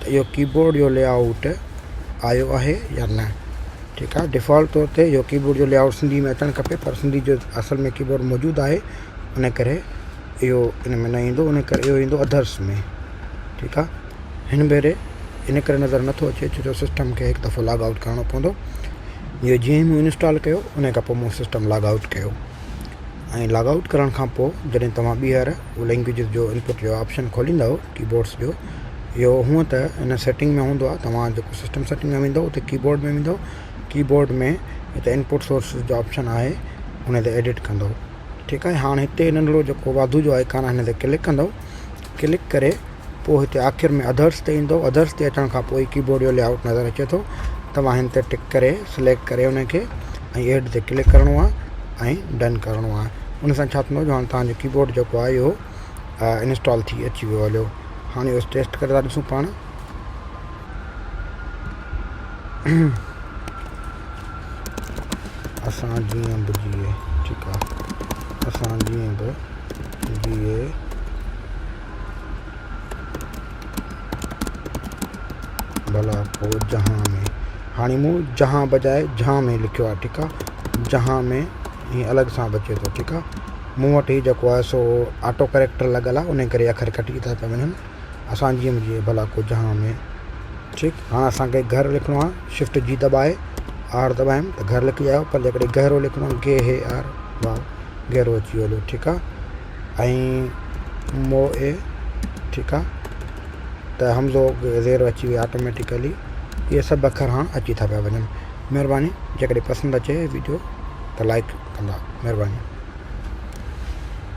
ته اهو ڪيبورڊ جو لي آئوٽ آيو آهي يا نه ٺيڪ آهي ڊفالٽ طور تي اهو ڪيبورڊ جو لي آئوٽ سنڌي ۾ اچڻ کپي پر سنڌي جو اصل ۾ ڪيبورڊ موجود آهي ان ڪري اهو ان ۾ نه ايندو ان ڪري اهو ايندو اڌرس ۾ ٺيڪ آهي هن ڀيري ان ڪري نظر نٿو اچي ڇو جو سسٽم کي هڪ دفعو لاگ آئوٽ ڪرڻو پوندو جو جيئن مون انسٽال ڪيو ان کان پوء مون سسٽم لاگ آئوٽ ڪيو ۽ لاگ آئوٽ ڪرڻ کان پوء جڏهن توهان ٻيهر لينگويجز جو انپوٽ جو آپشن کوليندا ڪيبورڊز جو اهو هونئن ته ان سيٽنگ ۾ هوندو آهي توهان جيڪو سسٽم سيٽنگ ۾ ويندو اتي ڪيبورڊ ۾ ويندو ڪيبورڊ ۾ هتي انپوٽ سورس جو آپشن آهي ان تي ايڊٽ ڪندو ٺيڪ آهي هاڻ هتي ننڍڙو جيڪو واڌو جو آئڪان آهي ان تي ڪلڪ ڪندو ڪلڪ ڪري پوء هتي آخر ۾ اڌرس تي ايندو اڌرس تي اچڻ کان پوء ڪيبورڊ جو لي آئوٽ نظر اچي ٿو توهان هن تي ٽڪ ڪري سليڪٽ ڪري ان کي ۽ ايڊ تي ڪلڪ ڪرڻو آهي ۽ ڊن ڪرڻو آهي ان سان ڇا ٿيندو جو هاڻ تهانجو ڪيبورڊ جيڪو آهي اهو انسٽال ٿي اچي ويو هليو هاڻي بس ٽيسٽ ڪري ٿا ڏسون پاڻ اسان جيئن به جيئي ٺيڪ آهي اسان جيئن به جيئي ڀلا پوء جهان ۾ هاڻي مون جهان بجاء جهان ۾ لکيو آهي ٺيڪ آهي جهان ۾ ائين الڳ سان به اچي ٿو ٺيڪ آهي مون وٽ هي جيڪو آهي سو آٽو ڪريڪٽر لڳل آهي انهي ڪري اکر ڪٽجي ٿا پيا وڃن اسان جيئن جيئن ڀلا ڪو جهان ۾ ٺيڪ هاڻ اسانکي گهر لکڻو آهي شفٽ جي دٻائي آر دٻايم ته گهر لکجي آيو پر جيڪڏهن گهرو لکڻو آهي گي هي آر واء گهرو اچي ويو هلو ٺيڪ آهي ۽ مو اي ٺيڪ آهي ته همزو زيرو اچي ويو آٽوميٽڪلي اهي سڀ اکر هاڻ اچي ٿا پيا وڃن مھرباني جيڪڏھن پسند اچي ويڊيو ته لائڪ ڪندا مھرباني.